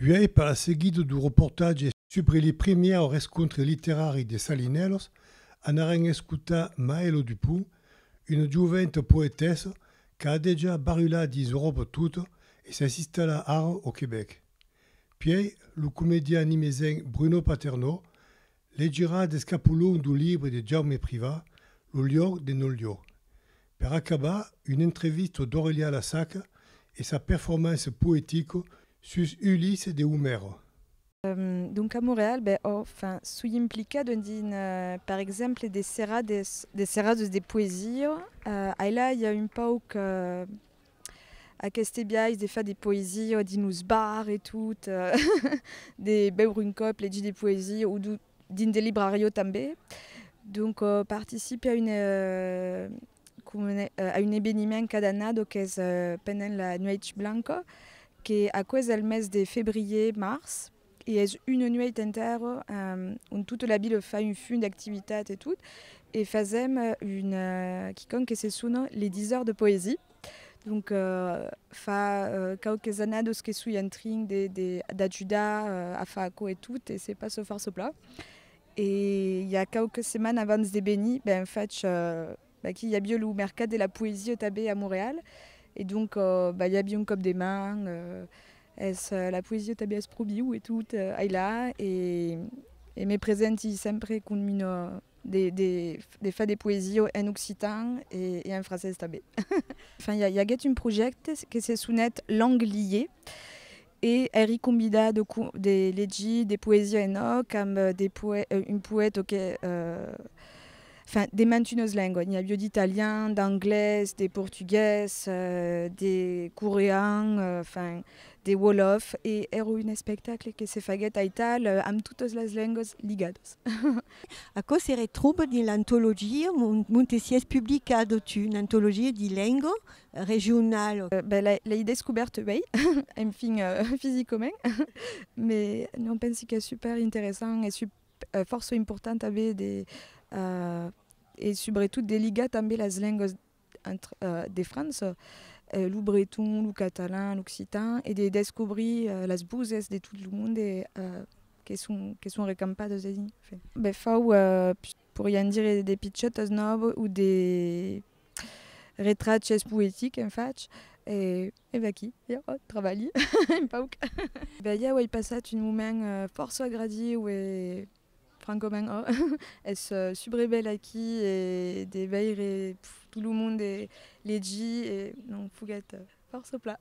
Uèi per la seguida du reportatge subre li primièr rescontre literari de Salinèlos, anarem escotar Maëlo Dupont, una joventa poetessa qu'a dejà barulat dins Euròpa tota e s'es installat ara au Quebec. Puèi lo comedian nimesenc Bruno Paternò Legirà d'escapolon d'un libre de Jaume Privat, Lo liog de nol liog. Per acabar, un entrevisto d'Aurelià Lasaca e sa performance poetico sus Ulisse de Homèro. Donc a Montreal, ben ò fin, soi implicat dins un, per exemple, de serrades, de serrades de poesia. Ailà i a un pauc Aqueste biais de far de poesia o dins los bars e tot, de beure un còp, legir de poesia o dins de librariò tanben. Donc participe a un a un eveniment cada annada qu'es pendent la nuèch blanca, que aquò es al mes de febrièr-març. e es una nuèit entèrra ont tota la vila fa un fum d'activitat e tot, e fasèm una quicòm que se sona les 10 heures de poésie, donc fa quauques annadas que soi en trin de de d'ajudar a far aquò e tot e se passa fòrça plan, e i a quauques setmanas abans de venir ben fach Aquí i aviá lo mercat de la poesia tanben a Montreal e donc bah i aviá un còp de man es la poesia tanben es pro viu e tot ailà e me presenti sempre com una de far de poesia en occitan e en francés tanben. Enfin i aguèt un projècte que se sonèt Langue liée E èri convidat de de legir de poesia en òc amb de poè un poèt o que enfin de mantunes lenguas, n'i avió d'italian, d'anglés, de portugués, de corean, enfin de wolof e èra un espectacle que se faguèt aital amb totas las lenguas ligadas. Aquò se retròba dins l'antologia Montesièrs publica a Dotun, antologia di lenga regional. Ben l'ai descubèrt uèi, enfin fisicament, me non pensi qu'es super interessant e fòrça important aver de e subretot de ligar tanben las lengas de França, lo breton, lo catalan, l'occitan e de descobrir las voses de tot lo monde que son recampadas ací. Ben fau, porián dire de pichètas, non? O de Retraches poetiques en fach e e vaquí, ja, eth trabalhi, un pauc. Ben ja auei passat un moment fòrça agradiu e francament ò, es subrebèl aquí e de veire tot lo monde legir e non foguèt fòrça plan.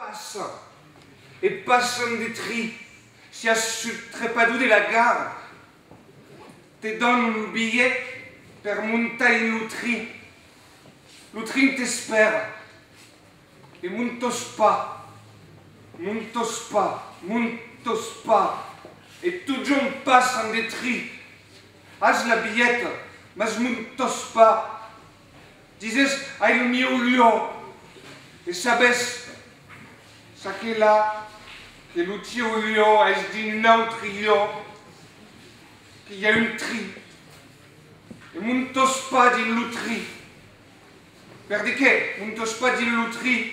Passa, e passan de tri, siás sut trepador de la gara, te dan un bilhet per montar en lo trin, lo trin t'espèra, e montos pas, montos pas, montos pas, e totjorn passan de tri, as la bilheta, mas montos pas, Dises, ai lo mieu luò. E sabes, ça qu'es là, que lo tieu luò es dins un autre luò, que i a un tri. E montos pas dins lo tri. Per de qué montos pas dins lo tri?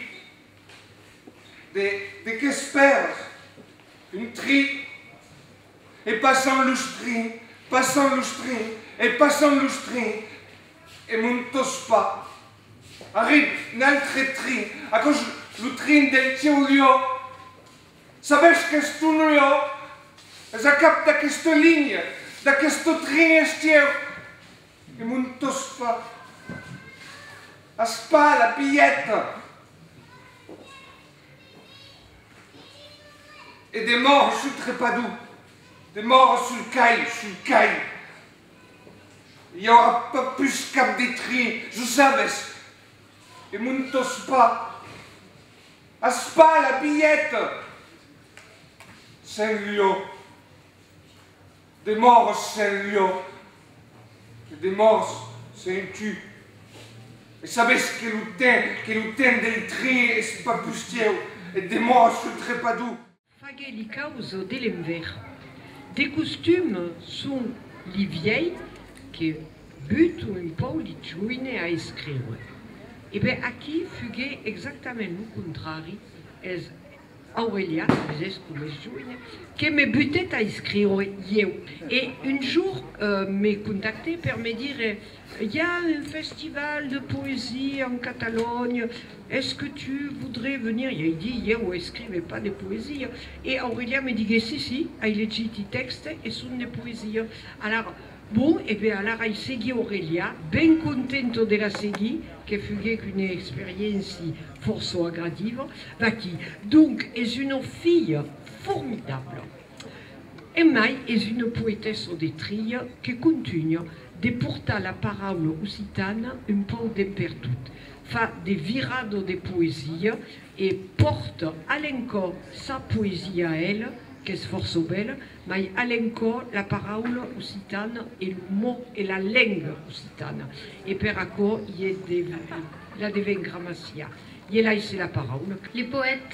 De, de qu'espèrs? Un tri? E passan los trins, passan los trins, e passan los trins. E mon tospa. Arrib n'altre trin, aquò 's lo trin del cèu liò. Sabètz qu'es ton liò? Es a cap d'aquesta linha, d'aquesta trin es cèu. E mon tospa. As pas la bilheta? E demòra sul trepador, demòra sul cai, sul cai. I aurà pas pus cap de trin, jo sabes. E mon tospa, as pas la bilheta? Sen lho. Demòres sen lho. E demòres sen tu. E sabes que lo ten, que lo ten del trin es pas pus teu. E demòres lo trepador. Faguè li caus de l'enver. De costum son li viei que buto un pau li joine a escriure. E ben aquí fuguè exactament lo contrari, es Aurelià, es es com es joine, que me butèt a escriure ieu. E un jour me contactè per me dire I a un festival de poesia en Catalonha, es que tu voudrais venir? I ai dit, ieu escrive pas de poesia. E Aurelià me digué, si, si, ai legit i tèxte e son de poesia. Alara, bon, e ben alara ai seguit Aurelià, ben contento de la seguir, que fuguec una experiéncia fòrça agradiva. Vaquí, donc, es una filha formidabla. Emai es una poetessa de Trilha que contunha de portar la paraula occitana un pauc dempertut, fa de virada de poesia e pòrta a l'encò sa poesia a ela, qu'es fòrça bèla, mai a l'encò la paraula occitana e lo mot e la lenga occitana. E per aquò i la deven gramaciar. I elai se la paraula. Le poète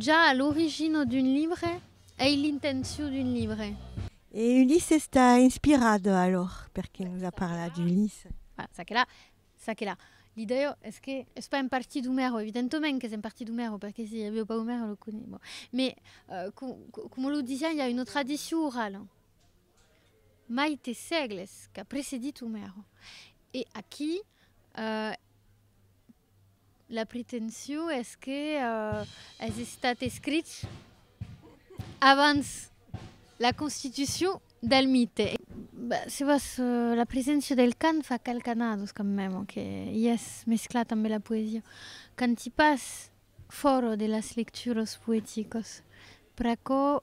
Ja a l'origina d'un libre ei l'intencion d'un libre. E Ulisses t'a inspirat alòr? Perqué nos a parlat d'Ulisses? Voilà, ça que la, ça que la. L'idèa es que es pas un parti d'Omèro, evidentament qu'es un parti d'Omèro, perqué si avieu pas Omèro lo coniá, bon. Mais, coma lo disiá, i a una tradicion orala, mai te sègles, qu'a precedit Omèro. E aquí, La pretension es que es estat escrich abans la constitucion del mite. Se vos la preséncia del cant fa calcanados quand meme que i es mesclat ambe la poesia. Canti pas fòra de las lecturas poeticas. Pr'aquò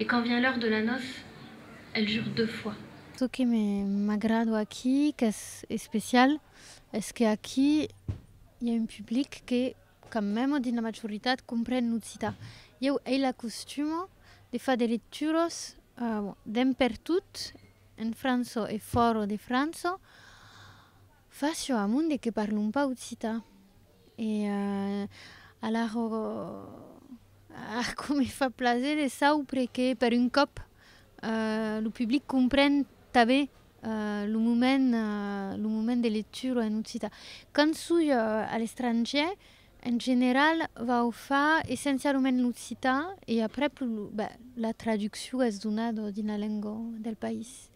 Et quand vient l'heure de la noce, elle jure deux fois. Çò que m'agrado aquí, qu'es especial, es que aquí i a un public que, quand mème dins la majoritat, compren l'occitan. Ieu ei la costuma de far de lecturas dempertot en franço e fòra de franço, Fa chaud a monde que parlon pas occitan. E alara ar com me fa plaser de saupre que per un còp lo public compren tanben lo moment lo moment de lectura en occitan. Quand soi a l'estrangièr, en general vau far essencialament en occitan e aprèp lo ben la traduccion es donada dins la lenga del país.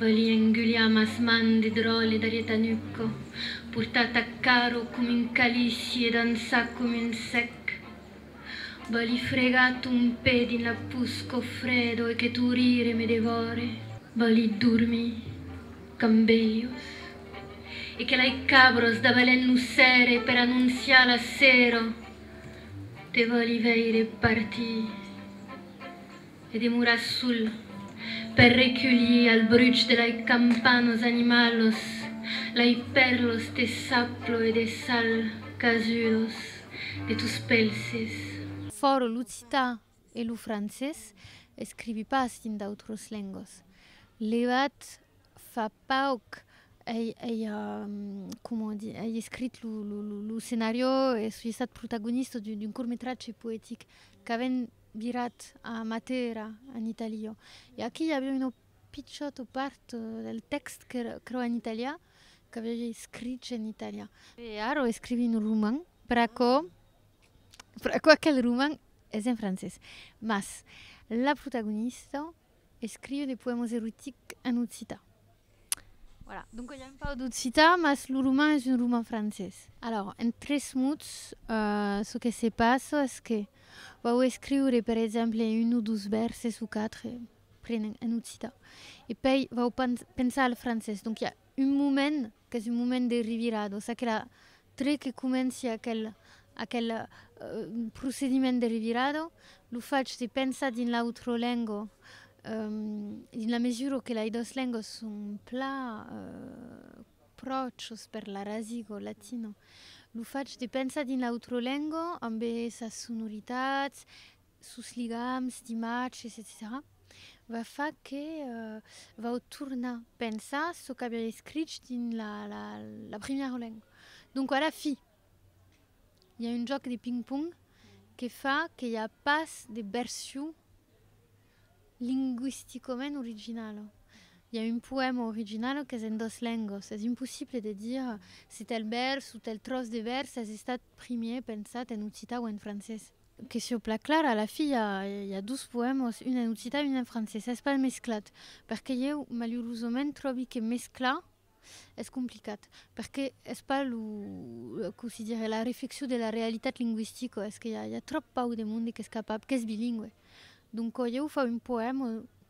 Balí enguliam as man de dròlle d'Arietanucco, portat a caro com un calici e dançat com un sec. Balí fregar ton pè dins la pus qu'o fredo e que tu rire me devòre. Balí dormir qu'am bèlhos e que lai cabros dabalènt lo cère per anonciar la sèro. Te balí veire partir. E demora sul per reculhir al bruch de lai campan los animalos, lai pèrlos de saplo e de sal casudos de tos pelses. Fòro l'occitan e lo francés, escrivi pas dins d'autros lengas. Levat fa pauc ei ei comment dire ei escrit lo lo lo scenariò e soi estat protagonista d'un court-métrage poétique qu'avèn virat a Matera, en Itàlia. E aquí i aviá una pichòta part del tèxt qu'èra aquerò en italià, qu'aviá ja escrich en italià. E ara escrivi un roman, per aquò, per aquò aquel roman es en francés. Mas la protagonista Escriu de poèmas erotics en occitan. Voilà, donc i a un pauc d'occitan, mas lo roman es un roman francés. Alors, en tres mots, çò que se passa es que vau escriure, per exemple, un o dos vèrses o quatre, prenent en occitan, e pei vau pensar al francés. Donc i a un moment Qu'es un moment de revirar, doncs aquela tre que comenci aquel aquel procediment de revirada lo fach de pensar dins l'autra lenga dins la mesura que las dos lengas son pla pròches per la rasiga latina. Lo fach de pensar dins l'autra lenga ambe sas sonoritats, sos ligams d'imatges, etcetèra va far que vau tornar pensar çò qu'aviá escrich dins la, la, la primièra lenga. Donc, a la fi, i a un jòc de ping-pong que fa que i a pas de version lingüisticament originala. I a un poèma original qu'es en dos lengas. Es impossible de dire se tèl vèrs o tèl tròç de vèrs es estat primièr pensat en occitan o en francés. Que sieu plan clara, a la fi i a dos poèmas, un en occitan e un en francés. Es pas mesclat, perque ieu malurosament tròbi que mesclar es complicat, perque es pas lo, com se dirie, la reflexion de la realitat lingüistica, es que i a tròp pauc de monde qu'es capable, qu'es bilingüe. Doncas ieu fau un poèma